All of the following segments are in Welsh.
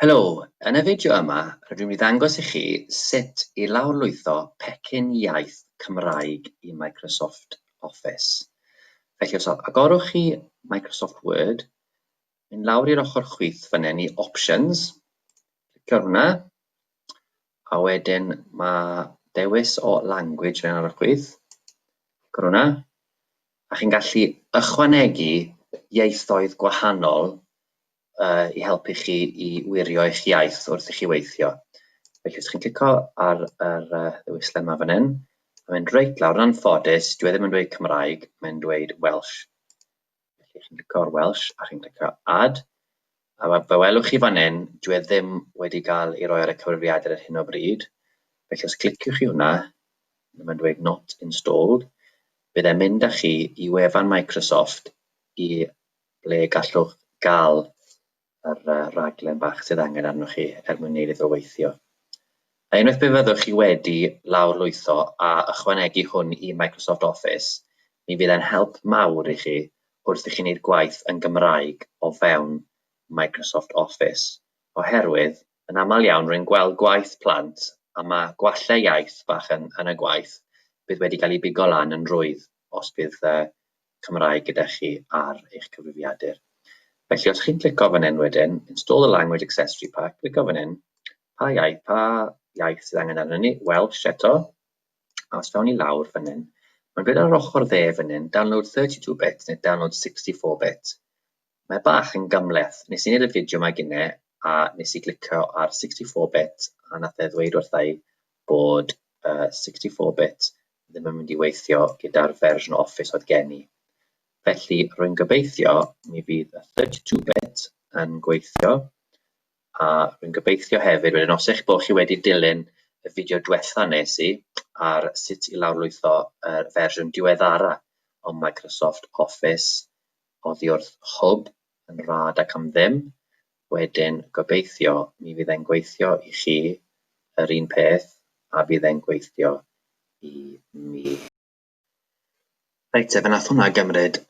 Helo, yn y fideo yma rydw i'n mynd i ddangos i chi sut i lawrlwytho pecyn iaith Cymraeg i Microsoft Office. Felly os agorwch chi Microsoft Word, mynd lawr i'r ochr chwith fynnen i Options, clicio ar hwnna, a wedyn mae dewis o language fynnen ar y chwith, clicio hwnna, a chi'n gallu ychwanegu ieithoedd gwahanol uh, i helpu chi i wirio eich iaith wrth i chi weithio. Felly, os chi'n clico ar yr uh, ddewisle yma fan hyn, mae'n mynd reit lawr, yn anffodus, dwi e ddim yn dweud Cymraeg, mae'n dweud Welsh. Felly, chi'n clico ar Welsh a chi'n clico Add, a fe welwch chi fan hyn, dwi e ddim wedi cael ei roi ar y cyfrifiadur ar hyn o bryd. Felly, os cliciwch chi hwnna, mae'n dweud Not Installed, bydd e'n mynd â chi i wefan Microsoft i ble gallwch gael yr rhaglen bach sydd angen arnoch chi er mwyn neud iddo weithio. A unwaith pe fyddwch chi wedi lawrlwytho a ychwanegu hwn i Microsoft Office, mi fydd e'n help mawr i chi wrth i chi wneud gwaith yn Gymraeg o fewn Microsoft Office, oherwydd yn aml iawn rwy'n gweld gwaith plant a ma gwallau iaith bach yn yn y gwaith bydd wedi cael ei bigo lan yn rwydd os bydd Cymraeg gyda chi ar eich cyfrifiadur. Felly os chi'n clico fan hyn wedyn, install a language accessory pack, clico fan hyn, pa iaith, pa iaith sydd angen arnyn ni, Welsh eto, a os fewn i lawr fan hyn, mae'n dweud ar yr ochr dde fan hyn, download 32 bit neu download 64 bit. Mae bach yn gymhleth. Nes i neud y fideo mae gynne a nes i glicio ar 64 bit a nath e ddweud wrtha i bod uh, 64 bit ddim yn mynd i weithio gyda'r fersiwn o Office oedd gen i. Felly rwy'n gobeithio mi fydd y 32 bit yn gweithio a rwy'n gobeithio hefyd wedyn os eich bod chi wedi dilyn y fideo diwetha nes i ar sut i lawrlwytho y fersiwn diweddara o Microsoft Office Oddiwrth hwb yn rad ac am ddim, wedyn gobeithio mi fydd e'n gweithio i chi yr un peth a fydd e'n gweithio i mi. Reit te, fe nath hwnna gymryd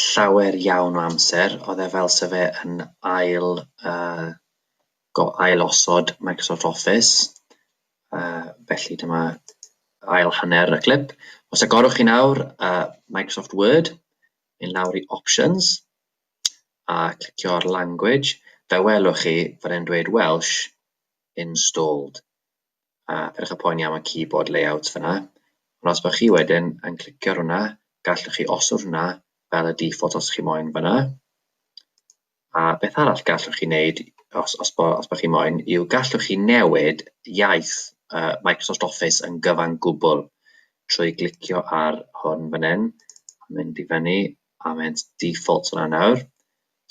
llawer iawn o amser, oedd e fel 'se fe yn ail uh, go- ail osod Microsoft Office, uh, felly dyma ail hanner y clip. Os agorwch chi nawr uh, Microsoft Word, mynd lawr i Options, a clicio ar Language, fe welwch chi fod e'n dweud Welsh installed, a peidiwch â poeni am y keyboard layout fyna, ond os bod chi wedyn yn clicio ar hwnna, gallwch chi osod hwnna fel y default os chi moyn fyna. A beth arall gallwch chi wneud, os os bo' os bo' chi moyn, yw gallwch chi newid iaith yy Microsoft Office yn gyfan gwbl trwy glicio ar hwn fan hyn, a mynd i fyny, a mynd default yna nawr,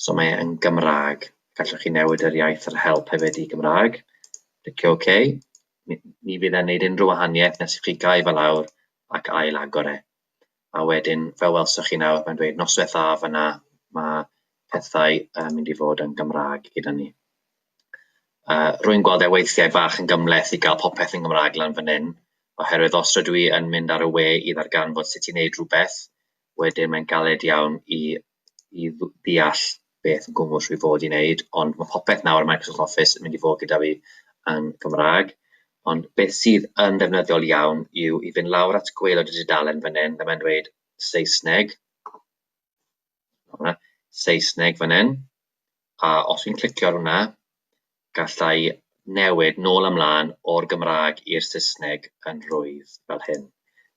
so mae e yn Gymraeg. Gallwch chi newid yr iaith yr help hefyd i Gymraeg, clicio OK, ni ni fydd e'n wneud unrhyw wahaniaeth nes i chi gau fe lawr ac ail-agor e. A wedyn, fel welsoch chi nawr, mae'n dweud noswaith dda fan'na, mae pethau yn mynd i fod yn Gymraeg gyda ni. Uh, rwy'n gweld e weithiau bach yn gymleth i gael popeth yn Gymraeg lan fan hyn, oherwydd os rydw i yn mynd ar y we i ddarganfod sut i wneud rhywbeth, wedyn mae'n galed iawn i i ddeall beth yn gwmws rwy fod i wneud, ond mae popeth nawr yn Microsoft Office yn mynd i fod gyda fi yn Gymraeg. Ond beth sydd yn ddefnyddiol iawn yw i fynd lawr at gweilod y dudalen fan hyn, mae'n dweud Saesneg, hwnna, Saesneg fan hyn, a os fi'n clicio ar hwnna, gallai newid nôl ymlaen o'r Gymraeg i'r Saesneg yn rwydd fel hyn.